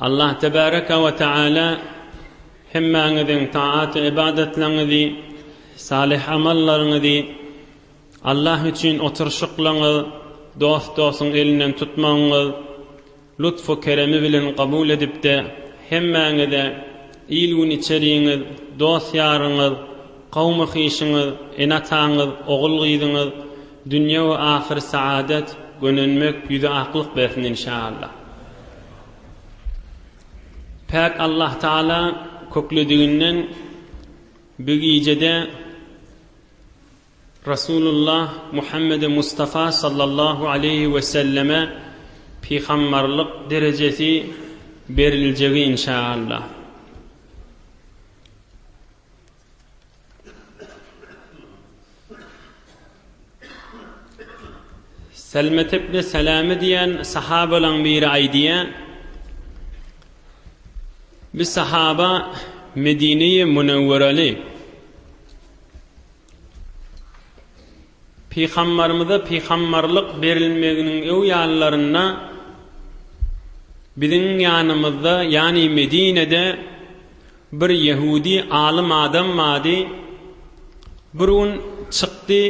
Allah tebaraka we taala hemmäňiziň taat ybadatlaryňyzy, salyh amallaryňyzy, Allah üçin oturyşyklaryňyz, dost-dostuň elinden tutmagyňyz lutfu keremi bilen kabul edip-de, hemmäňize il-gün içeriňiz, dost-ýaryňyz, kawmy-hyşyňyz, ene-ataňyz, ogul-gyzyňyz, Dünýe we ahyr saadet gönenmek ýüze aklyk bersin inşaallah. Päk Allah Taala köklediginden bu gijede Rasulullah Muhammede Mustafa sallallahu aleyhi ve selleme pihammarlyk derecesi beriljegi inşaallah. Selmetepde Seleme diýen sahabalaň biri aýdýar. Bir sahaba Medine-i Münewwereli Pygambarymyza pygambarlyk berilmeginiň öwýanlarynda biziň ýanymyzda, ýany Medinede bir ýehudi alym adam bardy. Bir gün çykdy,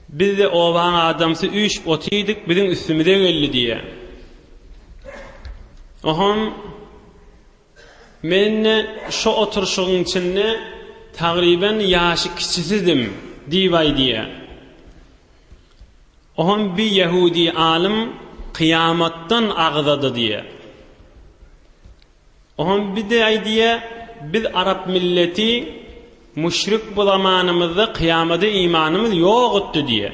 biz-de obaň adamsy üýşüp otyrdyk, biziň üstümize geldi diýýär. Ohon. Men-de şo oturyşygyň içinde tagryban ýaşy kiçisidim diýbaý diýýär. Oňam bir ýehudi alym kyýamatdan agzady diýýär. Oňam bir de aýdýar, biz arap milleti müşrik bu zamanymyzda kyýamada imanymyz ýokutdy diýýär.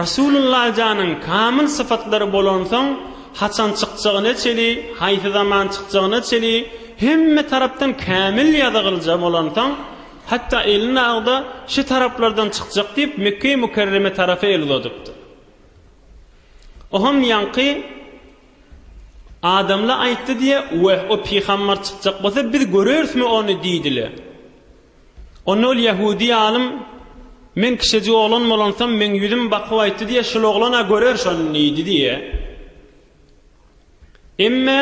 Rasulullah janyň kamyl sypatlary bolansoň, haçan çykjagyna çeli, haýsy zaman çykjagyna çeli hemme tarapdan kämil ýazygylja bolansoň, hatda elini agza şi taraplardan çykjak diýip Mekgeýi Mükerreme tarapa el uzadypdyr. Oham ýaňky adamla aýtdy diýe, Weh, o pygambar çykjak bolsa biz görerismi ony diýdile. Onda ol ýahudi alym, Men kişejik oglan bolansam, meň ýüzüm bakyp aýtdy diýe, şul oglan-a görer şony diýdi diýe. Emme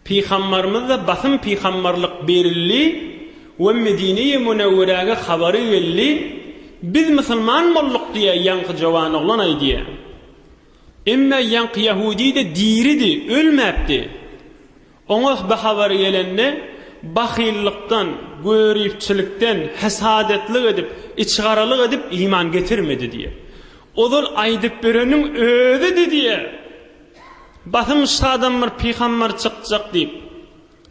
Pygambarymyzda basym pygambarlyk berildi we Medine-i Münewwerege habary geldi, Biz musulman bolduk diýe ýaňky jowan oglan aýdýa. Emme ýaňky ýahudi-de diridi, ölmäpdi. Oňa bu habar gelende, bahyllykdan, göripçilikden, hesadetlik edip, içigaralyk edip iman getirmedi diýýär. Ozal aýdyp bereniň özüdi diýýär. Basym şadan bir pygamber çykjak diýip,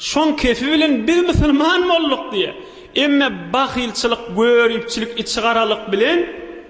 şoň kefi bilen biz musulman bolduk diýýär. Emme bahylçylyk, göripçilik, içigaralyk bilen.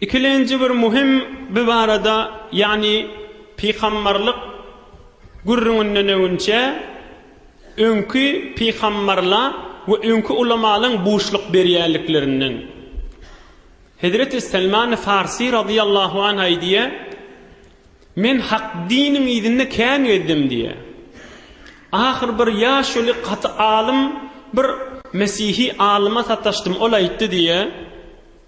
Ikilenji bir muhim bi barada ýagny pygambarlyk gürrüňinden öňinçe öňki pygambarla we öňki ulamalyň buşluk berýänliklerinden. Hezreti Selmani Farsy radyýallahu anh aýdýa, Men hak diniň yzynda kän gezdim diýä. Ahyr bir ýaşuly gaty alym bir mesihi alyma sataşdym ol aýtdy diýä,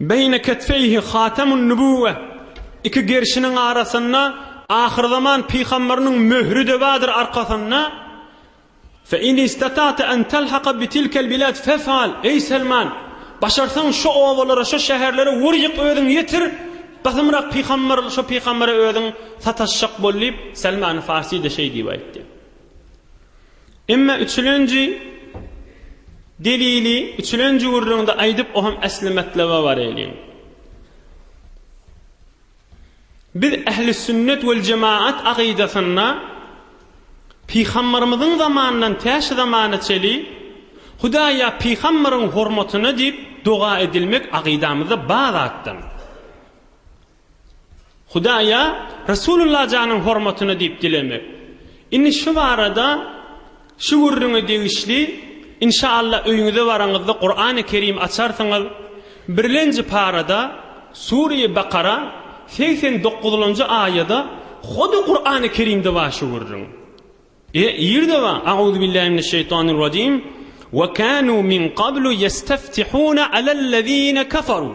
Beýne ketfeýhi hatemun-nübüwwe, Iki gerşiniň arasynda ahyrzaman pygamberynyň möhri-de bardyr arkasynda, Fe in istata'te en telhaka bi tilkel bilad fef'al, Eý Selman! Başarsaň şo obalara, şo şäherlere wur-ýyk özüň ýetir, Gysymrak pygamber şo pygambere özüň sataşjak bol diýip, Selman-y Farsi-de şeý diýip aýtdy. Emma üçülenji delili üçülenji gürrüňde aýdyp, o hem äsli matlaba bareliň. Biz ähli sünnet we jemaat agydasynda Pygambarymyzyň zamanyndan tä şu zamana çeli Hudaýa pygambaryň hormatyna diýip doga edilmek agydamyzda bar zatdan. Hudaýa Resulullah janyň hormatyna diýip dilemek. Indi şu barada şu gürrüňe degişli inşaallah öýüňize baraňyzda Kurany Kerim açarsyňyz birlenji parada Sureýi Bakara segsen dokuzlanjy aýada hody Kurany Kerimde bar şu gürrüň. E ýerde bar Auzubillahi mineşşeýtanirrajim Ve kanu min qablu yestaftihuna alellezine kafaru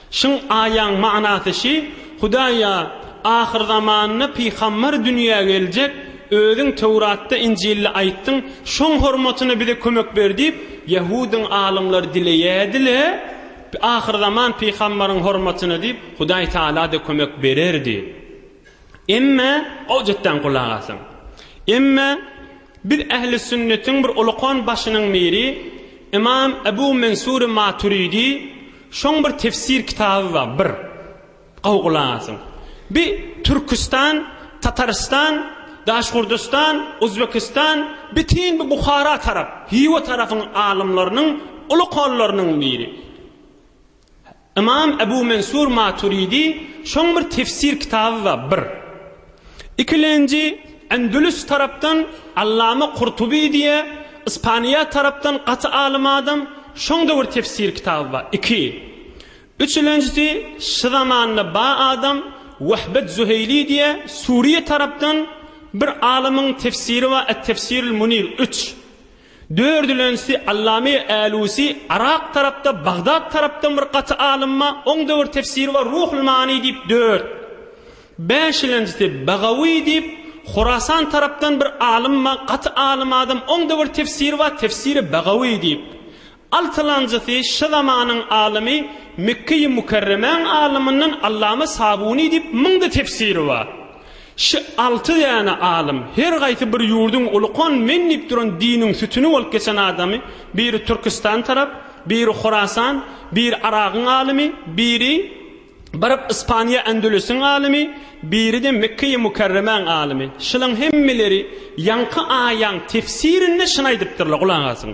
Şyň aýaň manasy şi, Hudaýa, ahyrzamanda pygambar dünýä geljek, Özüň Töwratda, Injilde aýtdyň, şoň hormatyna bize kömek ber diýip, ýahudyň alymlary dileýärdi-le, ahyrzaman pygambaryň hormatyna diýip, Hudaý Tagala-da kömek bererdi. Emme, gowjatdan gulak asyň. Emme, biz ähli sünnetiň bir ulukan başynyň biri, Ymam Ebu Mensury Maturidi, Şoň bir tefsir kitaby bar bir gowy gulak asyň. Bi Türküstan, Tatarystan, Daşgurdystan, Uzbekistan, bitin bi Buhara tarap, Hiwa tarapyň alymlarynyň uly kollarynyň biri. Ymam Ebu Mensur Maturidi şoň bir tefsir kitaby bar bir. Ikilenji, Endülüs tarapdan Allama Kurtuby diýe, Ispaniýa tarapdan gaty alym adam, şoň döwür tefsir kitaby bar, iki. Üçülenjisi, şy zamanda ba adam, Wehbet Züheýli diýe, Suriýe tarapdan bir alymyň tefsiri bar, Et-Tefsirul Munir, üç. Dördülenjisi Allame Älusi Yrak tarapda Bagdat tarapdan bir gaty alymma oň döwür tefsiri bar Ruhul Mani diýip dört. Bäşilenjisi Bagawi diýip Horasan tarapdan bir alymma gaty alym adam oň döwür tefsiri bar tefsiri Bagawi diýip. Altylanjysy şy zamanyň alymy Mekge-i Mükerremäň alymyndan Allama Sabuny diýip müňde tefsiri bar. Şy alty däne alym, her gaýsy bir ýurduň ulukan men diýip duran diniň sütüni bolup geçen adamy, biri Türküstan tarap, biri Horasan, biri Aragyň alymy, biri baryp Ispaniýa Ändülüsiň alymy, biri-de Mekge-i Mükerremäň alymy. Şylaň hemmeleri ýaňky aýaň tefsirinde şyny aýdypdyrlar, gulak asyň.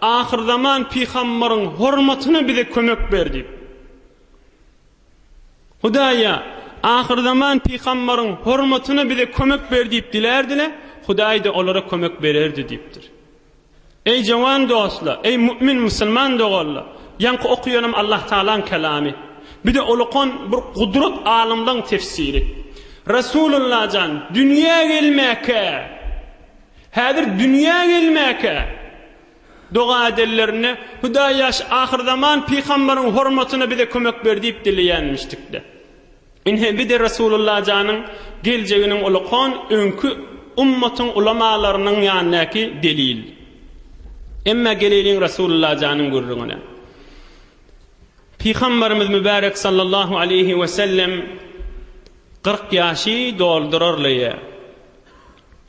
Ahyrzaman pygambaryň hormatyna bize kömek ber diýip. Hudaýa ahyrzaman pygambaryň hormatyna bize kömek ber diýip dilärdiler, Hudaý-da olara kömek bererdi diýipdir. Eý jawan dostlar, eý mümin musulman doganlar, ýaňky okaýanym Allah Tagalaň kelamy. Bir de ulukan bir gudrat alymlaryň tefsiri. Resulullah jan dünýä gelmäkä Häzir dünýä gelmäkä doga edenlerinde, Hudaý ýaş ahyrzaman pygambaryň hormatyna bize kömek ber diýip dileýänmişdikde. Ine, bi-de Resulullah janyň geljeginiň ulakon öňki ummatyň ulamalarynyň ýanyndaky delil. Emma geleýliň Resulullah janyň gürrüňine. Pygambarymyz mübärek sallallahu aleýhi we sellem kyrk ýaşy doldurarlyja.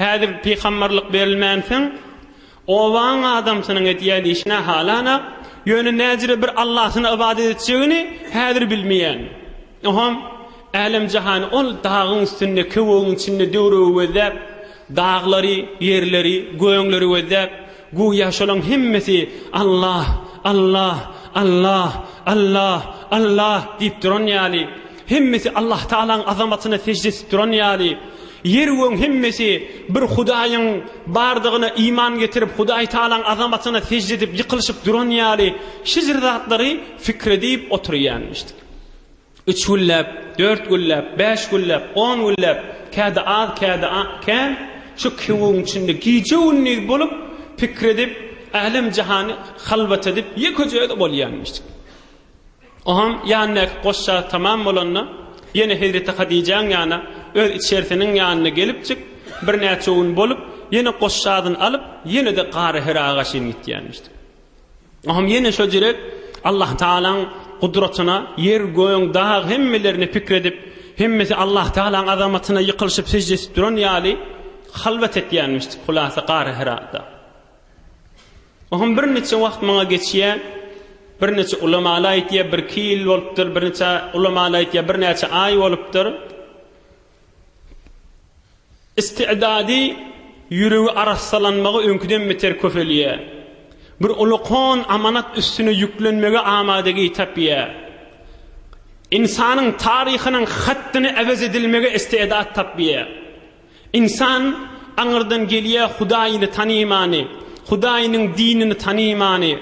Häzir pygamberlik berilmänsoň, obaň adamsynyň edýän işi nähalanak, ýöne näjire bir Allahyna ybadat etjegini häzir bilmeýän. Oňam älem-jahany ol dagyň üstünde, köwügiň içinde döwrügi gözläp, daglary, ýerleri, göňleri gözläp, göýä şolaň hemmesi Allah, Allah, Allah, Allah, Allah diýip duran ýaly, hemmesi Allahtagalaň azamatyna sežde edip duran ýaly, Ýer gögüň hemmesi bir Hudaýyň bardygyna iman getirip Hudaý Tagalaň azamatyna sežde edip ýykylyşyp duran ýaly şjr zatlary fikr edip oturýanmişdik. Üç günläp, dört günläp, bäş günläp, on günläp, kädi az, kädi kän şu köwügiň içinde gije gündiz bolup pikir edip älem jahany halwat edip ýekeje özi bolýanmişdik. Oňam ýanyndaky goşja tamam bolanda, ýene hezreti Hadijäň ýana, öz içerisiniň ýanyna gelipjik, birnäçe gün bolup, ýene goşjadyny alyp, ýene-de Gara Hira gaşyn gitýänmişdik. Oňam ýene şo jirek Allah Tagalaň gudratyna, ýer, göň, dag hemmelerine pikir edip, hemmesi Allah Tagalaň azamatyna ýykylyşyp sežde edip duran ýaly, halwat etýänmişdik, hulasa Gara Hirada. Oňam birniçe wagt maňa geçýä, birniçe ulamaly aýtýa, birki ýyl bolupdyr, birniçe ulamaly aýtýa, birnäçe aý bolupdyr. Istigdady, ýüregi arassalanmagy öňküden beter köpelýä. Bir uly kon amanat üstüne ýüklenmege amadagi tapýa. Ynsanyň taryhynyň hatdyny äwez edilmege istidat tapýa. Ynsan aňyrdan gelýär Hudaýyny tanymany, Hudaýynyň dinini tanymany,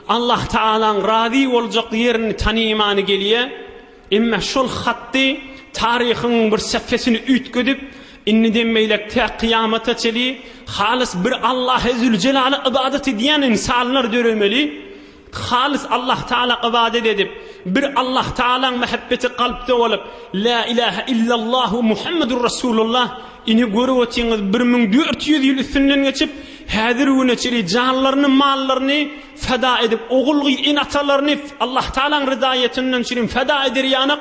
Allah Tagalaň razy boljak ýerini tanymany gelýär. Emma şol hatdy taryhyň bir säpesini üýtgedip, indiden beýläk tä kyýamata çeli halys bir Allahe Züljelala ybadat edýän ynsanlar döremeli. Halys Allahtagala ybadat edip, bir Allahtagalaň mähebbeti kalpda bolup, Lä ilähä illallah we Muhammedur Rasulullah, ine görüp otyňyz bir müň dört ýüz ýyl üstünden geçip, häzir güne çenli janlaryny, mallaryny feda edip, ogul-gyz, ene-atalaryny Allahtagalaň rydaýetyndan çirin feda eder ýanak,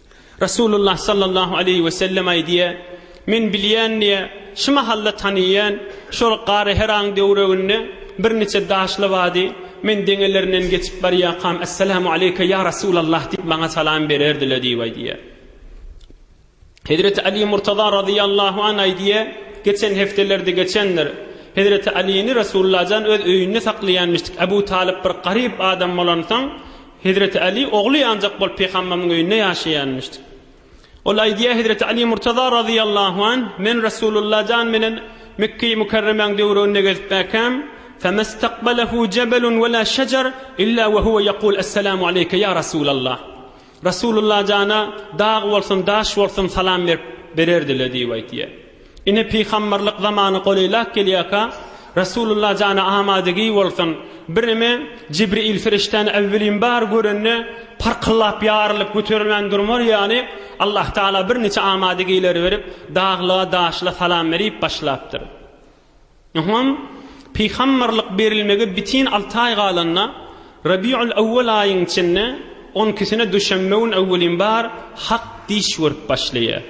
Resulullah sallallahu aleýhi we sellem aýdýar, Men bilýän diýýär, şu mahal-da tanaýan, şol Gary Heraň döwreginde birniçe daşly bady, men deňelerinden geçip barýakam, Essalamu aleýke, ýa Resulallah diýip maňa salam bererdiler diýip aýdýar. Hezreti Aly Murtaza razyýallahu an aýdýar, geçen hepdelerde geçendir, Hezreti Alyny Resulullah jan öz öýünde saklaýanmyşdyk, Abu Talyp bir garyp adam bolansoň, Hezreti Aly ogly ýanjak bolup Pygamberimiň öýünde ýaşaýanmyşdy. Ol aýdýar Hezreti Aly Murtaza razyýallahu anh, Men Rasulullah jan bilen Mekgeýi Mükerremäň döwründe gezip bäkäm, Femestaqbalehu jebelun wela şejer illa we huwe ýekul Esselamu aleýke ýa Rasulallah. Rasulullah jana dag bolsun, daş bolsun salam berip bererdile diýip aýdýar. Ine, pygamberlik zamany golaýlap gelýärka, Resulullah jana amadygüý bolsun, birneme Jibril perişdäni äwwelin bar görende, parkyllap, ýarylyp, göterilmän durmar ýaly, Allahtagala birniçe amadygüýleri berip, daglyga-daşla salam berip başlapdyr. Ynha, pygamberlik berilmege bitin alty aý galanda, Rabiul Awwal aýyň içinde on ikisine duşenbe gün öwwelin bar Hak diş görüp başlaýar.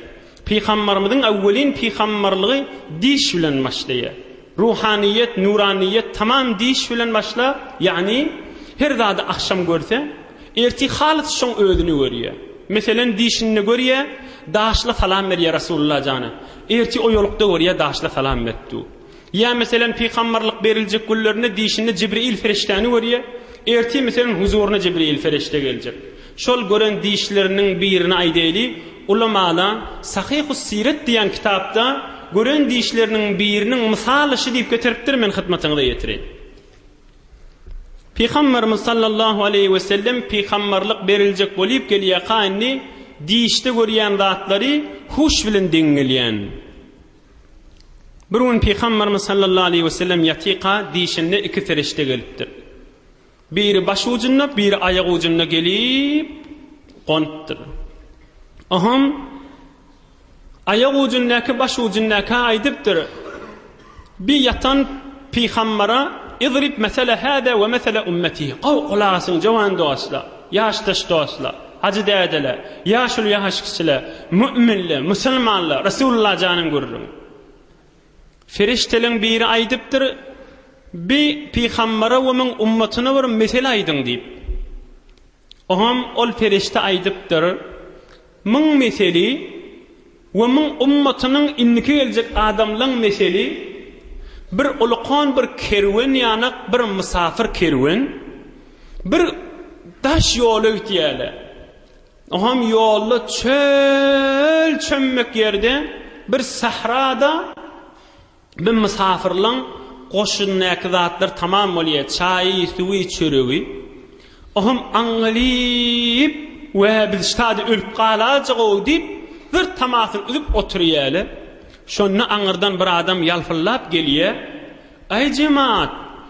Pygamberimiziň öwwelin pygamberligi diş bilen başlaýar. Ruhanyýet, nuranyýet tamam diş bilen başlap, ýagny her zady agşam görse, Ertir halys şoň özüni görýä. Meselen dişinde görýä, daşla salam berýä Rasulullah jana. Ertir oýalykda görýä daşla salam beripdu. Ýa meselen pygambarlyk beriljek günlerinde dişinde Jibril ferişdäni görýä, ertir meselen huzuryna Jibril ferişde geljek. Şol gören dişleriniň birini aýdaýly, ulamalar Sahyhus Siret diýen kitapda gören dişleriniň biriniň mysaly şu diýip getiripdir men hytmatyňyza ýetireýin. Pygamberimiz sallallahu aleýhi we sellem pygamberlik beriljek bolyp gelýäka indi dişde görýän zatlary huş bilen deň gelýän. Bir gün pygamberimiz sallallahu aleýhi we sellem ýatyka dişinde iki ferişte gelipdir. Biri baş ujunda, biri aýak ujunda gelip gonupdyr. Ohum Aýak ujundäki baş ujundäkä aýdypdyr, Bi ýatan pygambara, Idrib mesele hada we mesele ummeti, gowy gulak asyň jowan dostlar, ýaşdaş dostlar, hajy dädeler, ýaşuly ýaş kişiler, mu'minler, musulmanlar, Resulullah janyň gürrüň. Ferişteleň biri aýdypdyr, Bi pygambara we muň ummatyna bir mesele aýdyň diýip. Oňam ol perişde aýdypdyr, Müň meseli we müň ummatynyň indiki geljek adamlaň meseli bir ulkan bir kerwen ýanak bir mysafyr kerwen bir daş ýola gitýäle. Oňam ýolda çöl çömmek ýerde bir sahrada. Bir mysafyrlaň goşundaky zatlar tamam bolýa, çaýy, suwy, çöregi. Ohm aňňalyp, Wä, biz ştady ölüp galajag-ow diýip, bir tamasyny üzüp oturýaly. Şonda aňyrdan bir adam ýalpyldap gelýä, Aý, jemaat,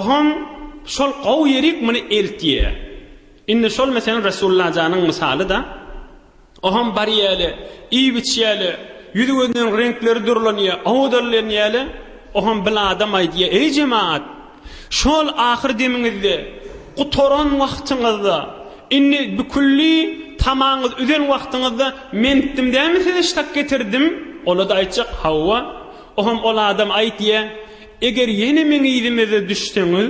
Ohoň şol gowy ýerik muny eltýä. Indi şol meselen Resullajanyň mysaly-da. Ohoň barýäli, iýip-içýäli, ýüzi-gözüniň reňkleri durlanýa, howdallanýaly. Ohoň bil adam aýdýa, Eý jemaat! Şol ahyr demiňizde, gutaran wagtyňyzda, indi bikülli tamaňyz üzen wagtyňyzda men itdim dälmi size ştak getirdim? Ola-da aýtjak, Hawa. Ohoň ol adam aýdýa, Eger ýene meň yzymeze düşseňiz,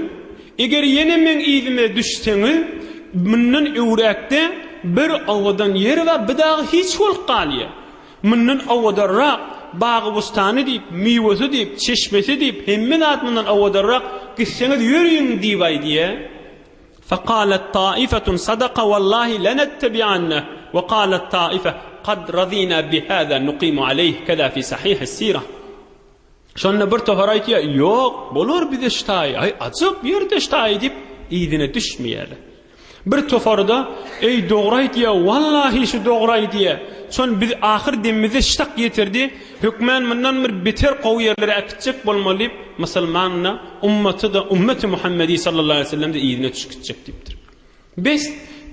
eger ýene meň yzyma düşseňiz, mundan öwräkde bir owadan ýer we bir dagy hiç bolup galýar. Mundan owadanrak, bagy-bustany diýip, miwesi diýip, çeşmesi diýip, hemme zat mundan owadanrak, gitseňiz ýöriň diýip aýdýa. Fakalet taifetun sadaka wallahi lenettebi'anne we kalet taife kad radina bi hada nuqimu aleyh keda fi sahih es-sirah. Şonda bir topar aýtýar, Ýok, bolar bize ştaý, aý, ajyk ýerde ştaý diýip, yzyna düşmeýärler. Bir topary-da, Eý, dogry aýtýa, wallahi şu dogry aýdýa. Şon biz ahyr demimize ştak ýetirdi, hökmän mundan bir beter gowy ýerlere äkitjek bolmaly diýip, musulman-da, ummaty-da, ummeti Muhammedi sallallahu aleýhi we sellem-de yzyna düşüp gitjek diýipdir. Bes,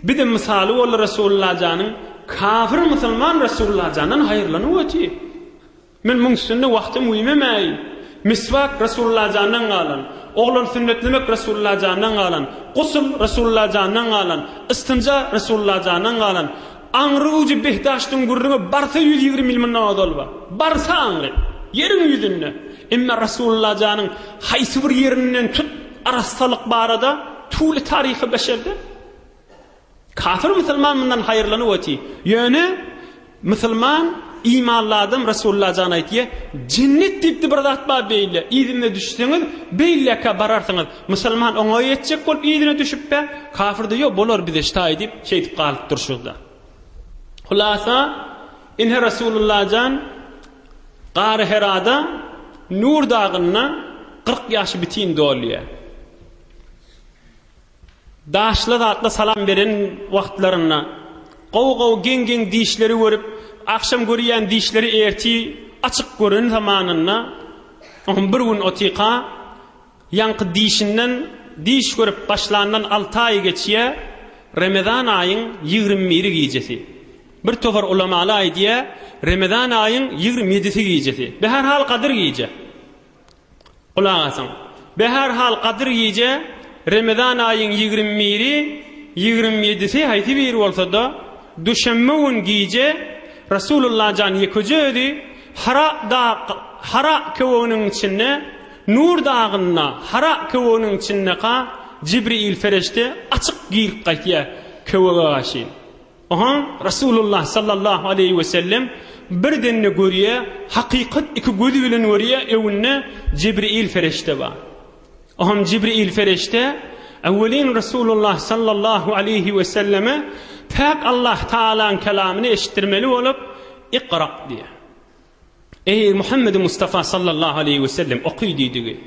bizem mysaly boldy Resulullah janyň, kafir musulman Resulullah jandan haýyrlanyp otyr. Men muň üstünde wagtym güýmemäýin. Miswak Resulullah jandan galan, oglan sünnetlemek Resulullah jandan galan, gusl Resulullah jandan galan, ystinja Resulullah jandan galan, aňry ujy behdaştyň gürrüňi barsa ýüz ýigrimi ýyl mundan ozal bar. Barsa aňry. Ýeriň ýüzünde. Emma Resulullah janyň haýsy bir ýerinden tut arassalyk barada tuly taryhy beşerde. Kafir musulman mundan haýyrlanyp oty. Ýöne musulman imanly adam Resulullah jan aýtýa, jennet diýipdi bir zat bar beýle, yzyna düşseňiz beýleka bararsyňyz. Musulman oňa ýetjek bolup yzyna düşüpbe, kafir de ýok bolar bize ştaý diýip şeýdip galyp durşyzda. Hulasa inhe Resulullah jan Gary Herada Nur dagynda 40 ýaşy bitin dolýa. Daşly zatla salam beren wagtlarynda gowy gowy geň geň dişleri görüp agşam görýän dişleri erti açyk gören zamanynda oňam bir gün otyka ýaňky dişinden diş görüp başlandan alty aýy geçýä remezan aýyň ýigrimi biri gijesi bir topar ulamaly aýdýä remezan aýyň ýigrimi ýedisi gijesi be her hal gadyr gije Gulak asyň. Be her hal Gadyr gije, Remezan aýyň ýigrimi biri, ýigrimi ýedisi haýsy biri bolsada, duşenbe gün gije Rasulullah jan ýekeje özi Hara dag Hara köweginiň içinde Nur dagynda Hara köweginiň içindeka Jibriil fereşte açyk girip gaýtýa köwege gaşyn. Oňa Resulullah sallallahu aleýhi we sellem bir dende görýär, hakykat iki gözi bilen görýär, öňünde Jibril fereşde bar. Oňam Jibril fereşde öwelin Resulullah sallallahu aleýhi we selleme päk Allah Taalaň kelamyny eşitdirmeli bolup, Iqra diýär. Eý, Muhammedi Mustafa sallallahu aleýhi wesellem, oky diýdigi.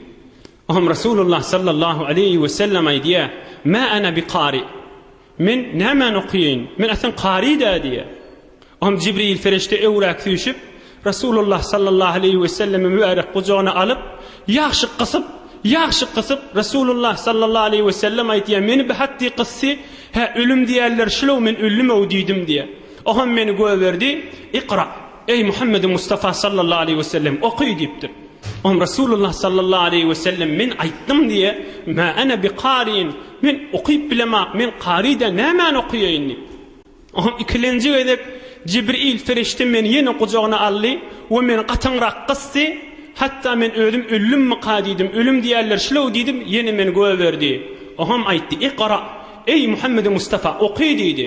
Oňam Resulullah sallallahu aleýhi wesellem aýdýar, Mä ana bi kari. Men nämäni okaýaýyn? Men aslan kari-dä diýýär. Oňam Jibril perişde öwrak süýşüp, Resulullah sallallahu aleýhi wesellemi mübärek gujagyna alyp, ýagşy gysyp, ýagşy gysyp, Resulullah sallallahu aleýhi wesellem aýdýar, Meni bi hatdi gysdy, hä, ölüm diýerler şulow, men öldüm-ow diýdim diýýär. Oňam meni göberdi, Ikra. Eý, Muhammedi Mustafa sallallahu aleýhi we sellem, oky! diýipdir. Oňa Resulullah sallallahu aleýhi we sellem, Men aýtdym diýe, Mä ene bi kariin, Men okyp bilemok, men kary däl, nämäni okaýaýyn? diýipdir. Oňa ikilenji gezek Jibril perişde meni ýene gujagyna aldy we meni gatyňrak gysdy, hatda men özüm ölümmika diýdim, ölüm diýerler şulew diýdim, ýene meni gögerdi. Oňam aýtdy, Ikra, eý, Muhammedi Mustafa, oky! diýdi.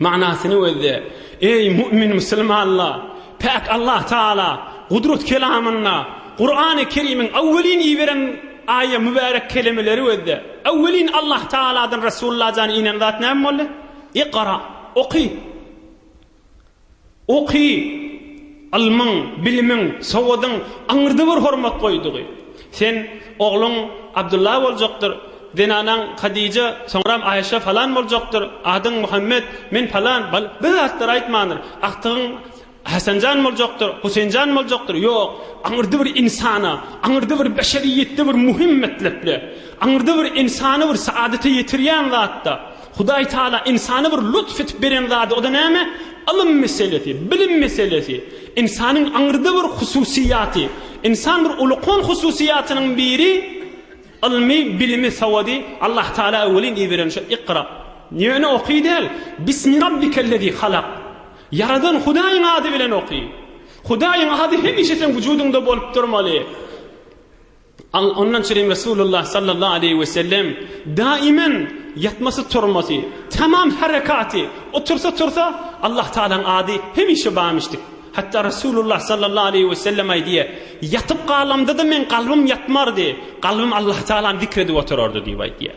Manysyny gözle. Eý, mu'min musulmanlar! Päk Allah Tagala Gudrat kelamynda, Kurany Kerimiň awwelin iberen aýa mübärek kelemeleri gözle. Awwelin Allah Tagaladan Resulullah jany inen zat näme boldy? Ikra, oky! Oky, ylmyň, bilimiň, sowadyň aňyrda bir hormat goýdugy. Sen, ogluň Abdylla boljakdyr, zenanaň Hadija, soňram Aýşe falan boljakdyr, adyň Muhammet, men falan, bal, bir zatlar aýtmandyr, agtygyň Hasanjan boljakdyr, Huseýnjan boljakdyr, ýok, aňyrda bir ynsana, aňyrda bir beşeriýetde bir muhim metlepde, aňyrda bir ynsany bir saadete ýetirýän zatda, Hudaý Taala ynsana bir lutf edip beren zady, o-da näme? Ylym meselesi, bilim meselesi. Ynsanyň aňyrda bir hususyýaty. Ynsan bir ulkan hususyýatynyň biri, ylmy, bilimi, sawady Allah Taala welin iberen şu Ikra. Ýöne oky däl, Bismi Rabbikellezî halak. Ýaradan Hudaýyň ady bilen oky. Hudaýyň ady hemişe seň wujudyňda bolup durmaly. Ondan çyny Resulullah sallallahu aleýhi wesellem daimen ýatmasy-turmasy, tamam herekaty, otursa-tursa Allah Tagalaň ady hemişe bamyşdyk. Hatda Resulullah sallallahu aleýhi wesellem aýdýar, Ýatyp galamda-da meň kalbym ýatmardy, kalbym Allah Tagalany zikr edip oturardy diýip aýdýar.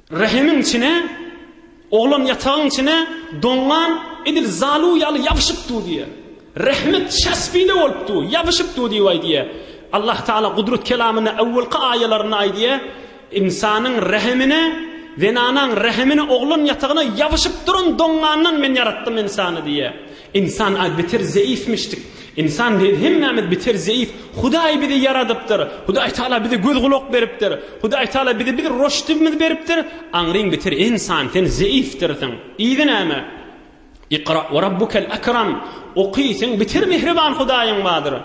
Rehimiň içine, oglan ýatagyň içine doňňan edil zalu ýaly ýabyşyp dur diýýär. Rehmit şaspide bolup dur, ýabyşyp dur diýip aýdýar. Allah Taala Gudrat kelamynda öwwelki aýalarynda aýdýar, Ynsanyň rehimine, zenanaň rehimine, oglan ýatagyna ýabyşyp duran doňňandan Men ýaratdym ynsany diýýär. Ynsan az beter zeýifmişdik. Ynsan däl hemmämiz beter zeýif. Hudaý bizi ýaradypdyr. Hudaý Taala bize göz gulak beripdir. Hudaý Taala bize bir roşdibimiz beripdir. Aňryň beter ynsan sen zeýifdirsiň. Yzy näme? Ikra we rabbukel ekram. Oky sen beter mehriban Hudaýyň bardyr.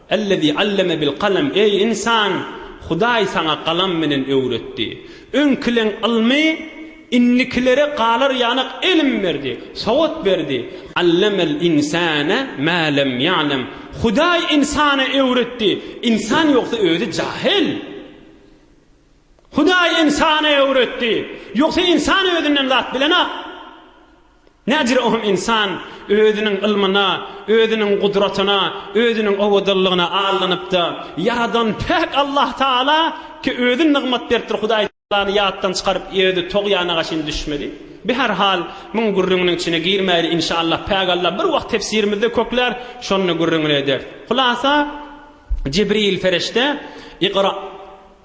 Ellezî alleme bil kalem, eý, ynsan, Hudaý saňa galam bilen öwretdi. Öňkileň ylmy indikilere galar ýanak ilim berdi, sowat berdi. Allemel ynsane mä lem ýa'lem, Hudaý ynsana öwretdi, ynsan ýogsa özi jahyl. Hudaý ynsana öwretdi, ýogsa ynsan özinden zat bilenok. Nädire ohm ynsan özüniň ylmyna, özüniň gudratyna, özüniň owadanlygyna aldanypda, Ýaradan päk Allah Taala ki özi nygmat beripdir Hudaý Taalany ýatdan çykaryp özi togýanaga çyn düşmeli. Bi her hal muň gürrüňiniň içine girmäýli inşallah päk Allah bir wagt tefsirimizde köklär şonda gürrüňini ederis. Hulasa Jibril Ferişte Iqra!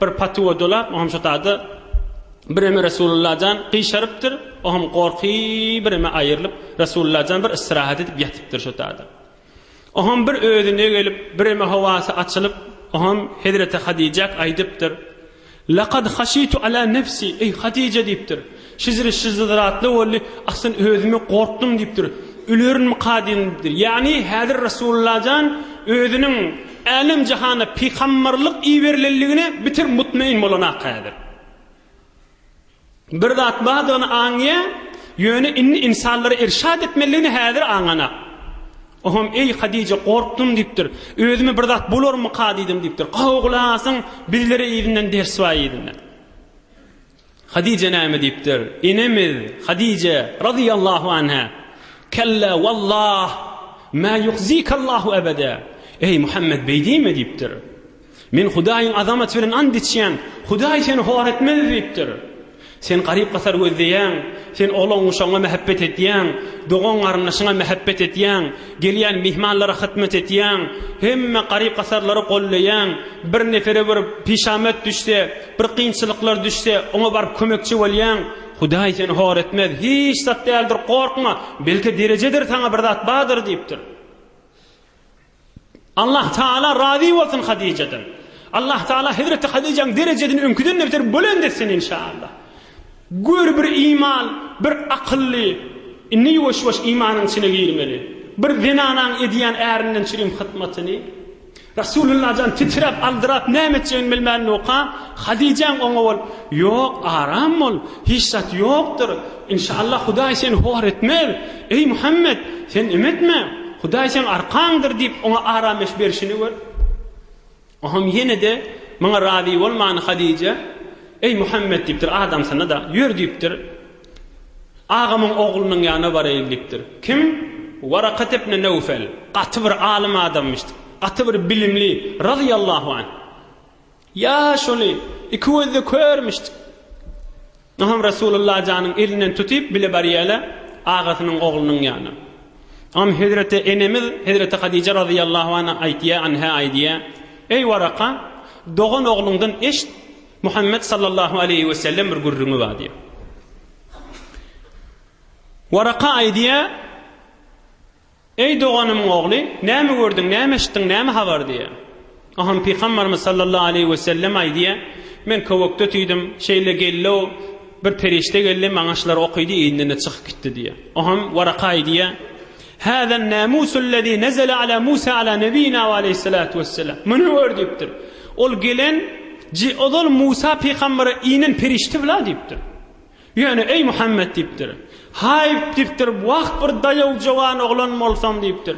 Bir patywa dolap, o hem şo taýda bireme Resulullah jan gyşarypdyr, o hem gorky bireme aýrylyp, Resulullah jan bir istirahat edip ýatypdyr şo taýda. O hem bir özüne gelip, bireme howasy açylyp, o hem hezreti Hadijak aýdypdyr, Lakad haşitu ala nefsi, eý Hadija diýipdir, Şyzry şyzzyzratly boldy, Aslan özümi gorkdum diýipdir. Ölerinmika diýdim diýipdir. Ýagny häzir Resulullah jan özüniň älem jahana pygambarlyk iberilenligine bitir mutmain bolanaka häzir. Bir zat bardygyny aňýa, ýöne indi insanlara irşat etmeliligini häzir aňanak. Oham eý Hadije gorkdum diýipdir. Özümi bir zat bolarmyka diýdim diýipdir. Gowy gulak asyň, bizlere yzyndan ders bar yzyndan. Hadije näme diýipdir? Enemiz Hadije razyýallahu anha, Kella wallah, ma yuhzikallahu ebede. Eý Muhammed beý diýme diýipdir. Men Hudaýyň azamaty bilen and içýän, Hudaý seni hor etmez diýipdir. Sen garyp-gasar gözleýäň, sen oglan-guşagyňa mähebbet etýäň, dogan-garyndaşyňa mähebbet etýäň, gelýän myhmanlara hytmat etýäň, hemme garyp-gasarlary golleýäň, bir nepere bir pişamat düşse, Bir kynçylyklar düşse, oňa baryp kömekçi bolýaň. Hudaý seni hor etmez. Hiç zat däldir, gorkma. Belki derejedir saňa bir zat bardyr diýipdir. Allah Taala razy bolsun Hadijadan. Allah Taala Hazreti Hadijaň derejesini öňküden beter bolend etsin inşallah. Gör bir iman, bir akylly, indi ýuwaş-ýuwaş imanyň içine girmeli. Bir zenanaň edýän ärinden çirim hytmatyny, Resulullah jan titräp, aldyrap näme etjegini bilmän noka, Hadijäň oňa bol, Ýok, aram bol, hiç zat ýokdur. Inşaallah Hudaý seni hor etmez. Eý Muhammet, sen em etme. Hudaý seň arkaňdyr diýip oňa arameş berşini gör. Oňam ýene-de muňa razy bolman Hadijä, Eý Muhammet diýipdir, adamsyna-da, Ýör diýipdir. Agamyň oglunyň ýanyna baraýyn diýipdir. Kim? Warakat ibn Newfel. Gaty bir alym adamymyşdyk. Gaty bir bilimli, razyýallahu anh. Ýa şony, iki gözde körmüşdik. Onam Resulullah janyň elinden tutyp bile barýaýlar agasynyň oglunyň ýanyna. Onam hezreti enemiz hezreti Hadije razyýallahu anh aýtýar, anha aýdýar, Eý Waraka, dogan ogluňdan eşit, Muhammet sallallahu aleýhi we sellem bir gürrüňi bar diýýär. Waraka aýdýar, Eý doganymyň ogly, näme gördüň, näme eşitdiň, näme habar diýýär. Aham pygamberimiz sallallahu aleýhi we sellem aýdýar, Men köwekde tüýdüm, şeýle geldi-o, bir perişde geldi, maňa şular okydy, indinde çykyp gitdi diýýär. Aham Waraka aýdýar, Hâzâ n-nâmûsullezî nezele alâ Musâ alâ nebiyyinâ ve aleyhissalâtu vesselâm. Muny gör diýipdir. Ol gelen, ji, ozal Musa pygambere inen perişde-la diýipdir. Ýöne, eý Muhammet diýipdir. Haýp diýipdir, wah bir daýaw jowan oglan bolsaň diýipdir.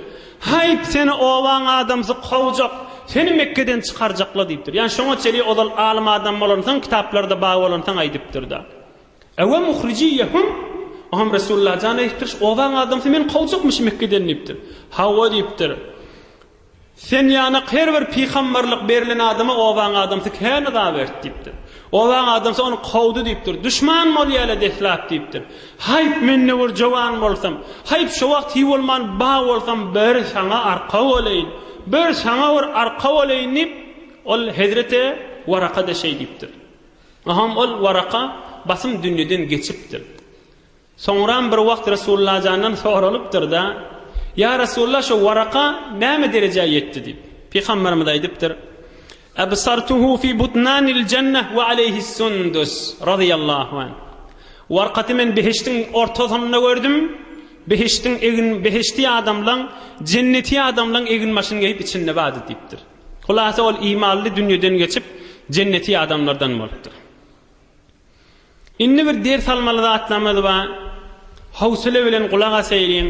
Haýp seni obaň adamsy kowjak, seni Mekgeden çykarjakla diýipdir. Ýani şoňa çenli ozal alym adam bolansoň kitaplarda bar bolansoň aýdypdyrda. Ewe muhrijiýehum, Oňam Resulalla jan aýtdyryş, Obaň adamsy meni kowjakmyş Mekgeden diýipdir. Hawa diýipdir. Sen ýanak her bir pygamberlik berlen adama obaň adamsy kän yza berdi diýipdir. Obaň adamsy ony kowdy diýipdir. Duşman bolýaly deslap diýipdir. Haýp men ne bir jowan bolsam, haýp şo wagt hiý bolman ba bolsam bir saňa arka bolaýyn, bir saňa bir arka bolaýyn diýip, ol hezreti Waraka-da şeý diýipdir. Aham ol Waraka basym dünýeden geçipdir. Soňram bir wagt Resullajandan soralypdyr-da, Ýa Resulla, şo Waraka näme derejä ýetdi? diýip. Pygamberimiz aýdypdyr, Absartuhu fi butnanil jannah we aleýhis sundus, razyýallahu anh. Warkaty men behiştiň ortasynda gördüm, behiştiň egin behişti adamlaň, jenneti adamlaň eginbaşyny geýip içinde bardy diýipdir. Hulasa ol imanly dünýeden geçip, jenneti adamlardan bolupdyr. Indi bir ders almaly zatlarymyz bar. Howsala bilen gulak asaýyň.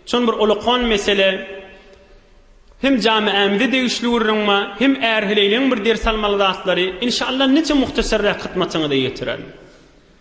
Çon bir ulkan mesele. Hem jamiämize degişli gürrüň bar, hem ärheleýleň bir ders almaly zatlary. Inşallah niçe muhtasarrak hytmatyňyza ýetirerin.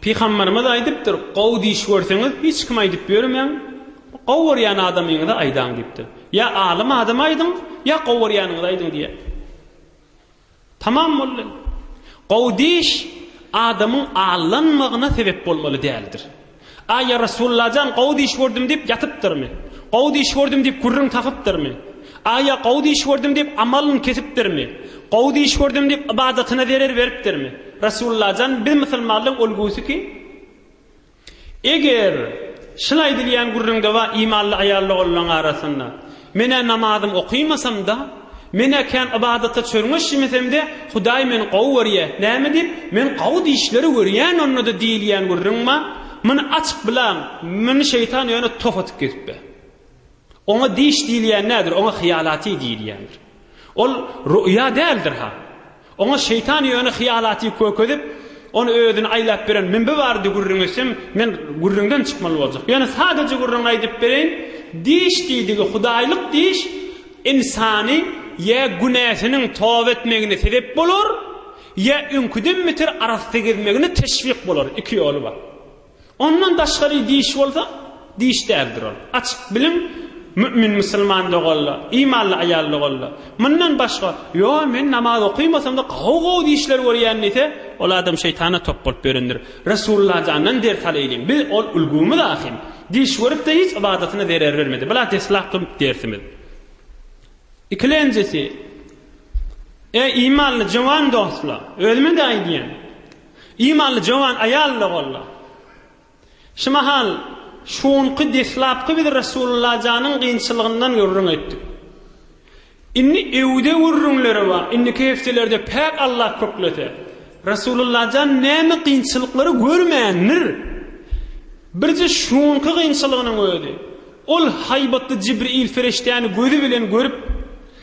Pygamberimiz aýdypdyr, Gowy diş görseňiz, hiç kime aýdyp ýörmäň, gowy görýän adamyňyza aýdaň diýipdir. Ýa alym adama aýdyň, ýa gowy görýäniňize aýdyň diýýär. Tamam boldy. Gowy diş adamyň allanmagyna sebep bolmaly däldir. Aý, ýa Resullajan, gowy diş gördüm diýip ýatypdyrmy? Gowy diş gördüm diýip gürrüň tapypdyrmy? Aý, ýa gowy diş gördüm diýip amalyny kesipdirmi? Gowy diş gördüm diýip ybadatyna zerer beripdirmi? Resullajan, biz musulmanlaryň ulgusy kim? Eger şul aýdylýan gürrüňde bar imanly aýal-ogullaryň arasynda. Men-ä namazym okymasam-da, men-ä kän ybadata çörňeşmesemde, Hudaý meni gowy görýä. Näme diýip, men gowy dişleri görýän onda-da diýilýän gürrüň bar. Muny açyp bilaň, muny şeýtan ýöne tof atyp gezipbe. Oňa diş diýilýän nädir, oňa hyýalaty diýilýändir. Ol ruýa däldir-ha. Oňa şeýtan ýöne hyýalaty kökezip, ony özüni aýlap beren mümbi bardy gürrüň etsem, men gürrüňden çykmaly boljak. Ýöne sadaja gürrüňi aýdyp bereýin, diş diýdigi hudaýlyk diş ynsany ýa günäsiniň toba etmegine sebep bolar, ýa öňküden beter arassa gezmegine teşwik bolar, iki ýoly bar. Ondan daşgary diş bolsa, diş däldir ol. Açyk biliň, mümin musulman doganlar, imanly aýal doganlar, mundan başga, Ýo, men namaz okaýmasam-da, gowy-gowy dişler görýän diýse, ol adam şeýtana top bolup ýörendir. Resulullah jandan ders alaýlyň. Biz ol ulgamyz ahyn. Diş görüp-de hiç ybadatyna zerer bermedi. Bula deslapky dersimiz. Ikilenjisi, Eý, imanly jowan dostlar, özüme-de aýdýan. Imanly jowan aýal-da boldy. Şu mahal, şu günki deslapky biz Resulullajanyň kynçylygyndan gürrüň etdik. Indi öwde gürrüňleri bar. Indiki hepdelerde päk Allah köklese, Resulullajan näme kynçylyklary görmändir? Birje şu günki kynçylygynyň özi. Ol haýbatly Jibril ferişdäni gözi bilen görüp,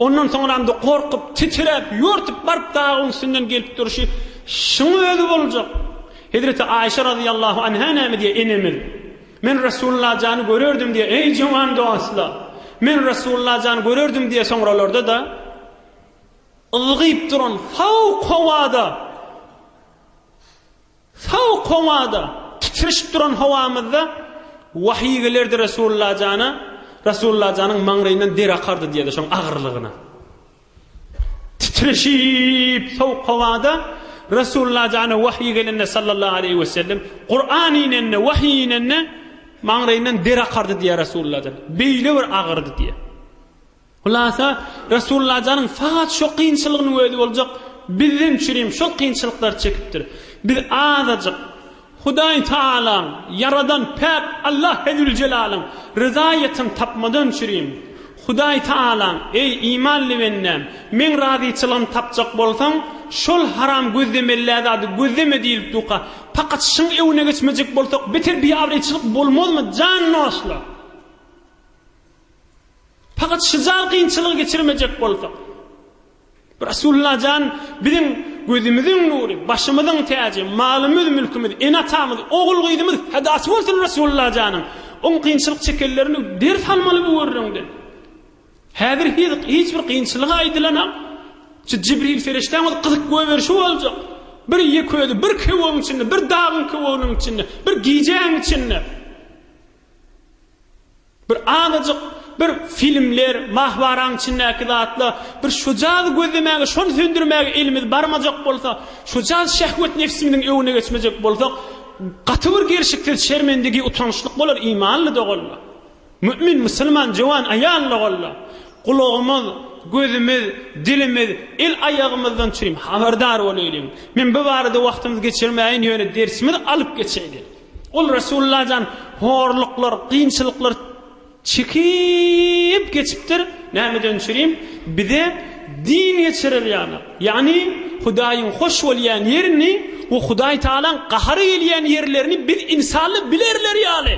Ondan soňramda gorkup, titiräp, ýörtüp baryp dagyň üstünden gelip durşy şuň özi boljak. Hezreti Aýşe razyýallahu anha näme diýýär, enemiz? Men Resulullah jany görerdim diýýär, eý jowan dostlar! Men Resulullah jany görerdim diýýär, soňralarda-da ylgyp duran fowk howada Sowuk howada, titrişip duran howamyzda wahyý gelerdi Resulalla jana, Resulalla janyň maňlaýyndan der akardy diýerdi şoň agyrlygyna. Titrişip sowuk howada Resulalla jana wahyý gelende sallallahu aleýhi we sellem, Kuran inende, wahyý inende maňlaýyndan der akardy diýer Resulalla jan. Beýle bir agyrdy diýer. Hulasa, Resulullah janyň faqat şo kynçylygynyň özi boljak, bizden üçin hem şol kynçylyklary çekipdir. Biz azajyk Hudaý Tagalaň, Ýaradan päk Allah Hezzüljelalyn ryzaýetini tapmadan üçin, Hudaý Tagalaň, Eý, imanly bendäm, Meň razyçylygymy tapjak bolsaň, şol haram gözlemellä zady gözleme diýlip duka. Pakat şyň öwüne geçmejek bolsak beter biabraýçylyk bolmazmy, jan dostlar! Fakat şujal kynçylygy geçirmejek bolsak. Resulullah jan biziň gözümiziň nury, başymyzyň täji, malymyz, mülkümiz, ene atamyz, ogul gyzymyz fedasy bolsun Resulullah janyň. Oň kynçylyk çekenlerini ders almaly bu gürrüňden. Häzir hiz hiç bir kynçylygy aýdylanam. Şu Jibril ferişdäň öz gyzyk göw berişi boljak. Bir ýek özi, bir köwüň içinde, bir dagyň köwüginiň içinde, bir gijäň içinde. Bir azajyk bir filmler, mahbaraň içindäki zatlar, bir şujady gözlemäge, şony söndürmäge elimiz barmajak bolsa, şujady şehwet nefsimiziň öwüne geçmejek bolsak, gaty bir gelşiksiz şermendigi, utançlyk bolar imanly doganlar. Mümin, musulman, jöwan aýal doganlar. Gulagymyz, gözümiz, dilimiz, el aýagymyzdan çürim habardar bolaýlyň. Men bu barada wagtymyzy geçirmäýin, ýöne dersimizi alyp geçeýli. Ol Resulullah jan horluklar, kynçylyklar çekip geçipdir. Nämeden çürim? Bize din geçirer ýaly. Ýagny Hudaýyň hoş bolýan ýerini we Hudaý Tagalaň gahary gelýän ýerlerini biz insally bilerler ýaly.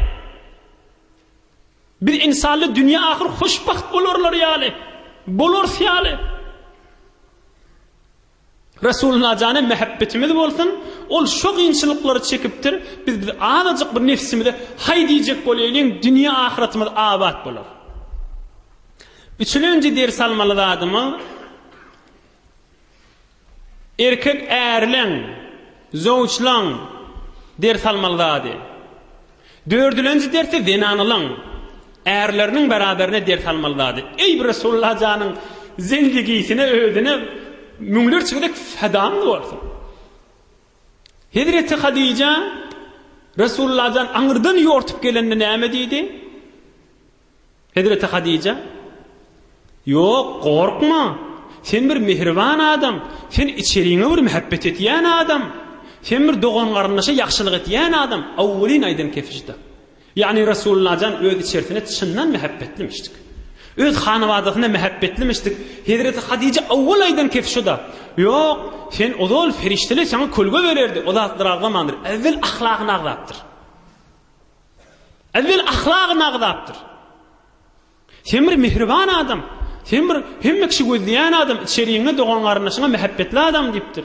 Biz insally dünýä ahyr hoşbagt bolarlar ýaly. Bolarys ýaly. Resulullah jana mähebbetimiz bolsun, ol şo gynçylyklary çekipdir, biz biz azajyk bir nefsimize haý diýjek bolýalyň, dünýe ahyratymyz abat bolar. Üçülenji ders almaly zadymyz erkek ärleň, zowçlaň ders almaly zady. Dördülenji dersi zenanalaň ärleriniň beraberine ders almaly zady. Eý bir Resulullah janyň zendigisine özüne müňlerçe gezek fedamyz bolsun. Hezreti Hadija Resulullah jan aňyrdan ýortup gelende näme diýdi? Hezreti Hadija, Ýok, gorkma! Sen bir mähriban adam, sen içeriňe bir mähebbet etýän adam, sen bir dogan-garyndaşa ýagşylyk etýän adam, awwelin aýdan kefişda. Ýagny Resullajan öz içerisine çyndan mähebbetlimişdik. Öz hanabadasyna mähebbetlimişdik. Hezreti Hadija awwel aýdan kefişda, Ýok, sen ozal ferişdeler saňa kölge bererdi, o zatlar agzamandyr. Awwel ahlagyny agzapdyr. Ewwel ahlagyny agzapdyr. Sen bir mihriban adam. Sen bir hemme kişi gözleýän adam, içeriňe dogan-garyndaşyňa mähebbetli adam diýipdir.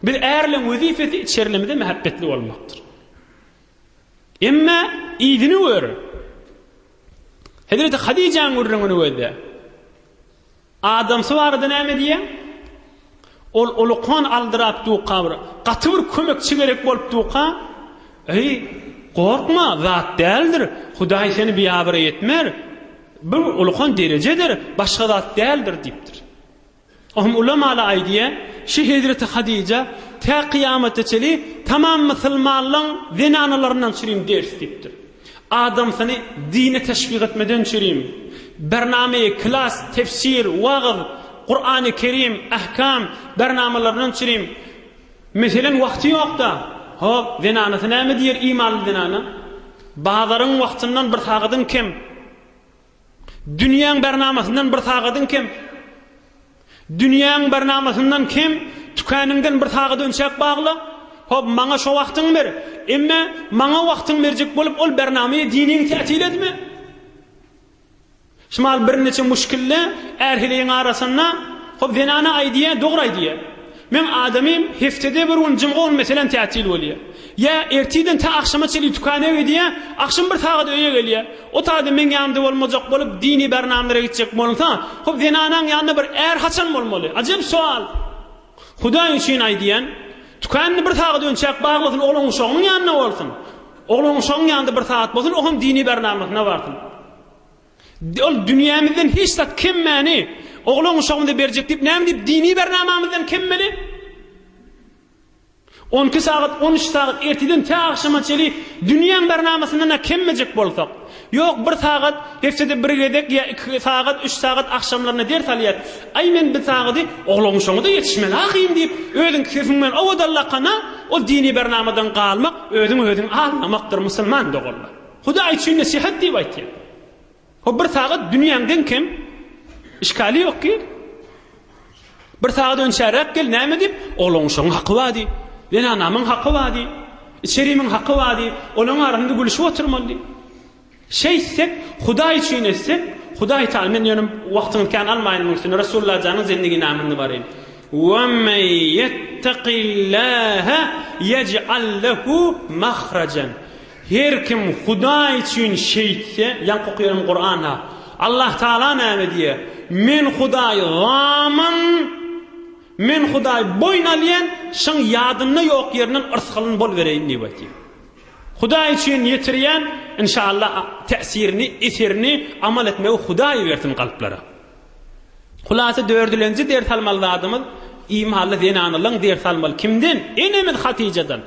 Biz ärleň wezipesi içerilimize mähebbetli bolmakdyr. Emma ýigini gör. Hezreti Hadijäň gürrüňini gözle. Adamsy barada näme diýýäň? Ol ulukan aldyrap duka bir, gaty bir kömekçi gerek bolup duka. Eý, gorkma, zat däldir, Hudaý seni biabraý etmer, bu ulukan derejedir, başga zat däldir diýipdir. Ohm ulamaly aýdýa, şu hezreti Hadyja tä kyýamata çenli tamam mysylmanlaň zenanalaryndan çürim ders diýipdir. Adamsyny dine teşwik etmeden çürim. Bername, klas, tefsir, wagyz, Kurany Kerim, ahkam, bernamalaryndan çürim. Meselen wagty ýokda. Hop, zenanasy näme diýer imanly zenana? Bazaryň wagtyndan bir sagadyň kem. Dünýäň barnamasyndan bir sagadyň kem. Dünýäň barnamasyndan kem, tükäningden bir sagat önçäk bagla. Hop, maňa şo wagtyňy ber. Emme, maňa wagtyňy berjek bolup, ol barnamaýa diniň täsir etme. Şmal birniçe muşkilli är-heleýiň arasynda, hop, zenana aýdýa, dogry aýdýa. Meň adamym heftede bir gün jumga gün meselem tätil bolýar. Ýa ertirden tä agşama çenli tükana gidýär, agşam bir sagat öýe gelýär. Otagda meň ýanymda bolmajak bolup dini bernamlara gitjek bolunsa, hop zenanaň ýanynda bir är haçan bolmaly? Ajep sowal. Hudaý üçin aýdýan, tükanyny bir sagat önçäp baglasyn oglanuşagynyň ýanynda bolsun. Oglanuşagyň ýanynda bir sagat bolsun, o hem dini bernamasyna barsyn. Ol dünýämizden hiç zat kemmäni oglan-uşagymyza berjek diýip, näme diýip dini bernamamyzdan kemmeli? On iki sagat, on üç sagat erteden tä agşama çeli dünýäň bernamasyndan-a kemmejek bolsak, ýok, bir sagat, hepdede bir gezek ýa iki sagat, üç sagat agşamlaryna ders alýas. Aý, men bir sagaty oglan-uşagyma-da ýetişmeli ahyryn diýip, özüň sefiň bilen owadan lakana, ol dini bernamadan galmak, özüňi-özüň aldamakdyr, musulman doganlar. Hudaý üçin nesihat diýip aýtýar. O bir sagat dünýäň deň kem. Işgali ýok ki. Bir sagat önçäräk gel näme diýip, olaň şoň haky bady. Ýene anamyň haky bady. Içerimiň haky bady. Olaň arasynda gülüşip oturmaly. Şeýtsek, Hudaý üçin etsek, Hudaý taýyn men ýöne wagtyňyz kän almaýyn muň üçin. Resulullah janyň zendigini namyny baryn. Wa men yettaqillaha yec'al lahu mahrajan. Her kim Hudaý üçin şeýtse, ýaňky okaýan Kuranda Allah Tagala näme diýýär, Men Hudaý zaman, Men Hudaý boýun alýan, şyň ýadynda ýok ýerinden yrsgalyn bolubereýin diýip aýtýar. Hudaý üçin ýetirýän, inşallah täsirini, eserini, amal etmegi Hudaý bersin kalplara. Hulasa dördülenji ders almaly zadymyz, imanly zenanalaň ders almaly. Kimden? Enemiz Hatyjadan.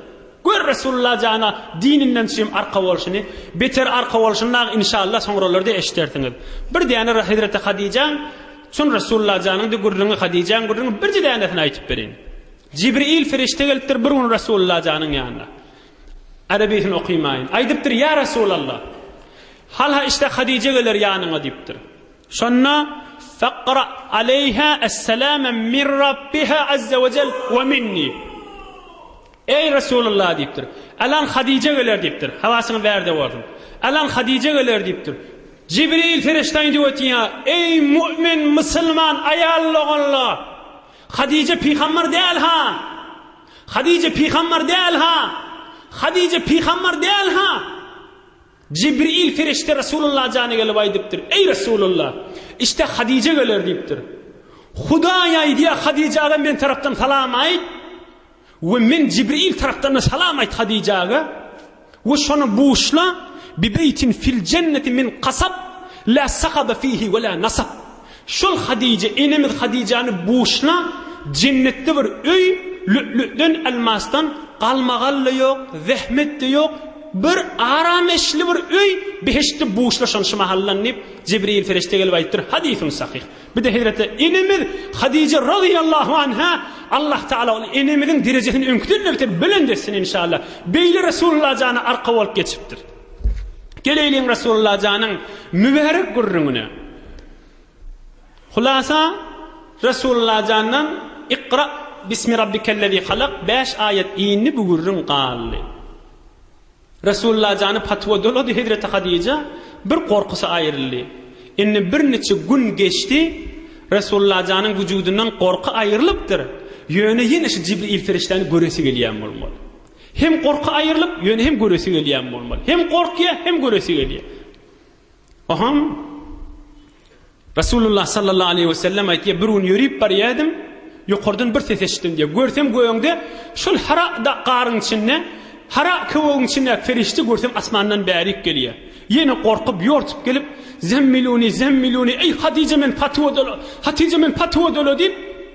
Gör Resulullah jana dininden çym arka bolşuny, beter arka bolşuny dagy inşallah soňralarda eşidersiňiz. Bir däne Hezreti Hadijaň çyn Resulullah janyňdy gürrüňi Hadijaň gürrüňi birje dänesini aýtyp bereýin. Jibril Firişte gelipdir bir gün Resulullah janyň ýanyna. Arabysyn okymaýyn. Aýdypdyr ýa Resulallah. Halha işte Hadije geler ýanyňa diýipdir. Şonda Faqra aleyha es-salama min Rabbiha azza we jel we minni. Eý, Resulullah! diýipdir. Alan Hadije geler diýipdir. Habasyňy ber-de bolsun. Alan Hadije geler diýipdir. Jibril perişde indi ötýär. Eý, mu'min, musulman, aýal doganlar! Hadije pygambar däl-ha! Hadije pygambar däl-ha! Hadije pygambar däl-ha! Jibril perişde Resulullah jana gelip aýdypdyr. Eý, Resulullah! Işte Hadije geler diýipdir. Hudaý aýdýar, Hadijä-de men tarapdan salam aýt! We men Jibril tarapdan-da salam aýt Hadijäge, we şony buşla, Bibeýtin fil jenneti min kasab, la sakabe fihi we la nasab. Şol Hadijä, enemiz Hadijäni buşla, jennetde bir öý, lü'lü'den, elmasdan, galmagal-da ýok, zähmet-de ýok, bir arameşli bir öý, behiştde buşla şony şu mahaldan diýip, Jibril perişde gelip aýdypdyr, hadysyň sahyh. Bir-de hezreti enemiz Hadije razyýallahu anha, Allah Tagala ol enemiziň derejesini öňküden-de beter belent etsin inşallah. Beýle Resulullah jana arka bolup geçipdir. Geleýliň Resulullah janyň mübärek gürrüňine. Hulasa Resulullah jandan Iqra bismi rabbikellezî halak 5 aýat indi bu gürrüň galdy. Resulalla jany patwa dolady hezreti Hadija bir gorkusy aýryldy. Indi bir niçe gün geçdi Resulalla janyň wujudyndan gorky aýrylypdyr ýöne ýene şu Jibril ferişdäni göresi gelýän bolmaly. Hem gorky aýrylyp ýöne hem göresi gelýän bolmaly. Hem gorkýa hem göresi gelýä. Ohaň Resulullah sallallahu aleyhi ve sellem aýtýar, bir gün ýörip barýadim, ýokardan bir ses eşitdim diýär. Görsem göňde şol hara garyň içinde, hara köwegiň içinde ferişte görsem asmandan bärik gelýär. Ýene gorkup, ýortup gelip, zemmiluni, zemmiluni, eý Hatija men patywa dola, Hatija men patywa dola diýip,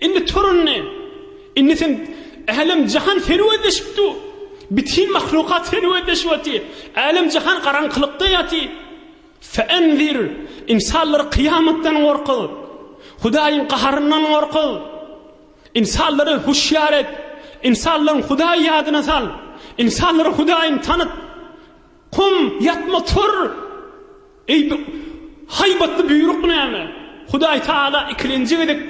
Indi tur indi! Indi sen Älem-jahan serwetleşip dur! Bütin mahlukat serwetleşip otyr! Älem-jahan garaňkylykda ýatyr! Fe'enzir! Ynsanlary kyýamatdan gorkuz! Hudaýyň gaharyndan gorkuz! Ynsanlary huşýar et! Ynsanlaryň Hudaýy ýadyna sal! Ynsanlara Hudaýyňy tanyt! Kum, ýatma, tur! Eý, bu haýbatly buýruk näme? Hudaý Tagala ikilenji gezek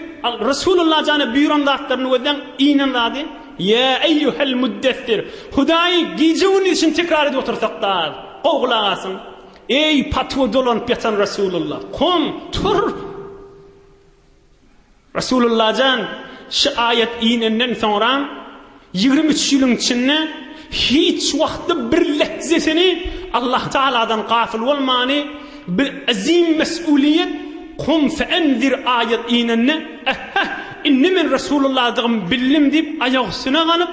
Resulalla jana buýran zatlaryny gözläň, iýnen zady, Ýa eýýuhel muddessir! Hudaýy gije-gündiz üçin tekrar edip otursak-da az. Gowy gulak asyň! Eý, patyga dolanyp ýatan Resulalla! Kom, tur! Resulullajan şu aýat inenden soňra ýigrimi üç ýylyň içinde hiç wagtda bir lehzesini Allah Tagaladan gafyl bolmany bir azim mes'uliýet Kum fe'enzir aýat inende ähhä indi men Resulullahdygym bildim diýip aýak üstüne ganyp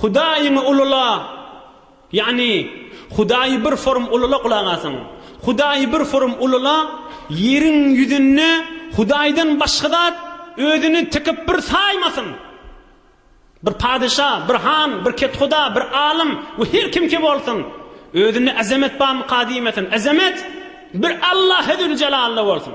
Hudaýyňy ulula, ýagny Hudaýy bir forum ulula gulak asyň. Hudaýy bir forum ulula, ýeriň ýüzünde Hudaýdan başga zat özüni tikip bir saýmasyn. Bir padeşa, bir han, bir kethuda, bir alym we her kimki bolsun, özünde azamet barmyka diýmesin. Azamet bir Allahe züljelalda bolsun.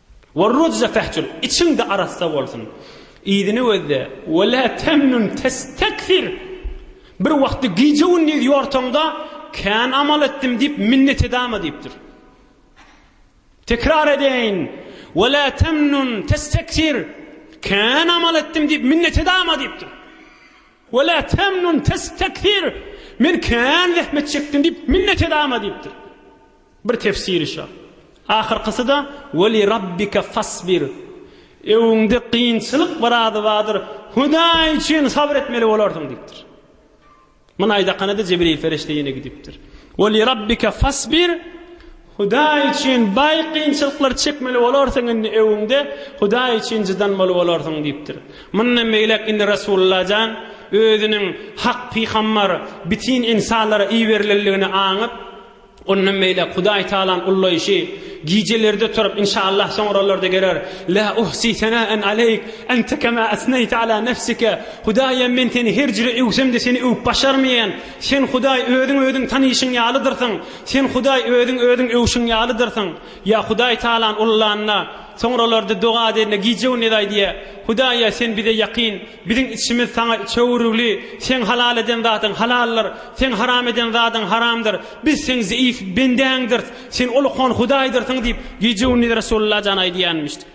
Wer rujza fahjur, içiň-de arassa bolsun. Yzyny gözle, we la tamnun testakfir, bir wagtda gije-gündiz ýorsaň-da, kän amal etdim diýip minnet edama diýipdir. Tekrar edeýin, we la tamnun testakfir, kän amal etdim diýip minnet edama diýipdir. We la tamnun testakfir, men kän zähmet çekdim diýip minnet edama diýipdir. Bir tefsiri şa. Ahyrkysy-da, Ve li Rabbike fasbir. Öwüňde kynçylyk bir ady bardyr, Hudaý üçin sabyr etmeli bolarsyň diýipdir. Muny aýdakana-da Jibril perişde ýene gidipdir. Ve li Rabbike fasbir. Hudaý üçin baý kynçylyklary çekmeli bolarsyň indi öwüňde, Hudaý üçin jydanmaly bolarsyň diýipdir. Mundan beýläk indi Resulullah jan özüniň hak pygambar, bitin insanlara iberilenligini aňyp, Ondan beýläk Hudaý Tagalaň ullaýşy, Gijelerde turup, inşaallah soňralarda geler, La uhsi senaen aleýk, ente kema esneýte ala nefsike, Hudaýym, men seni her jüre öwsem-de seni öwüp başarmaýan, Sen, Hudaý, özüň özüň tanyşyň ýalydyrsyň, Sen, Hudaý, özüň özüň öwşüň ýalydyrsyň. Ýa Hudaý Tagalany ullanda, soňralarda doga edende gije-gündiz aýdýar, Hudaý-a, Sen bize ýakyn, Biziň içimiz Saňa çöwrügli, Seň halal eden zadyň halaldyr, Seň haram eden zadyň haramdyr. Biz Seň zeýif bendäňdirs, Sen Ulukhan Hudaýdyrsyň diýip, gije-gündiz Resulalla jan aýdýanmyşdy.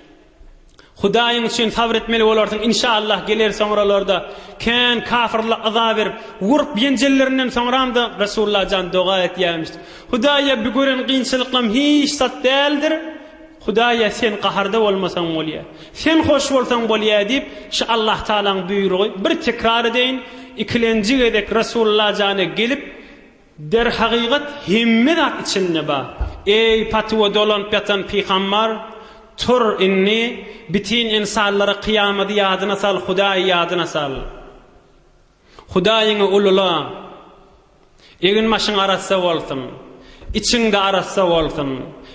Hudaýyň üçin sabr etmeli bolarsyň, inşaallah geler soňralarda. Kän kafyrlar yza berip, urup-ýenjellerinden soňram-da Resulalla jan doga etýärmişdi. Hudaýa bu gören kynçylyklarym hiç zat däldir. Hudaýa sen gaharda bolmasaň bolýa. Sen hoş bolsaň bolýa diýip, şu Allahtagalaň buýrugy, bir tekrar edeýin, ikilenji gezek Resulallajana gelip, Derhagygat hemme zat içinde bar. Eý, patuwa dolanyp ýatan pygambar, tur indi, bütin ynsanlara kyýamady ýadyna sal, Hudaýy ýadyna sal. Hudaýyňy ulula. Egin-başyň arassa bolsun. Içiň-de arassa bolsun.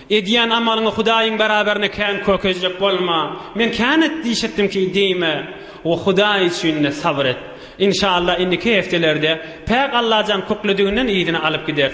Edýän amalyňy Hudaýyň beraberine kän kökezjek bolma. Men kän et diýşetdimki diýme we Hudaý üçin-de sabyr et. Inşallah indiki hepdelerde päk Allajan kükledigini yzyna alyp gideris.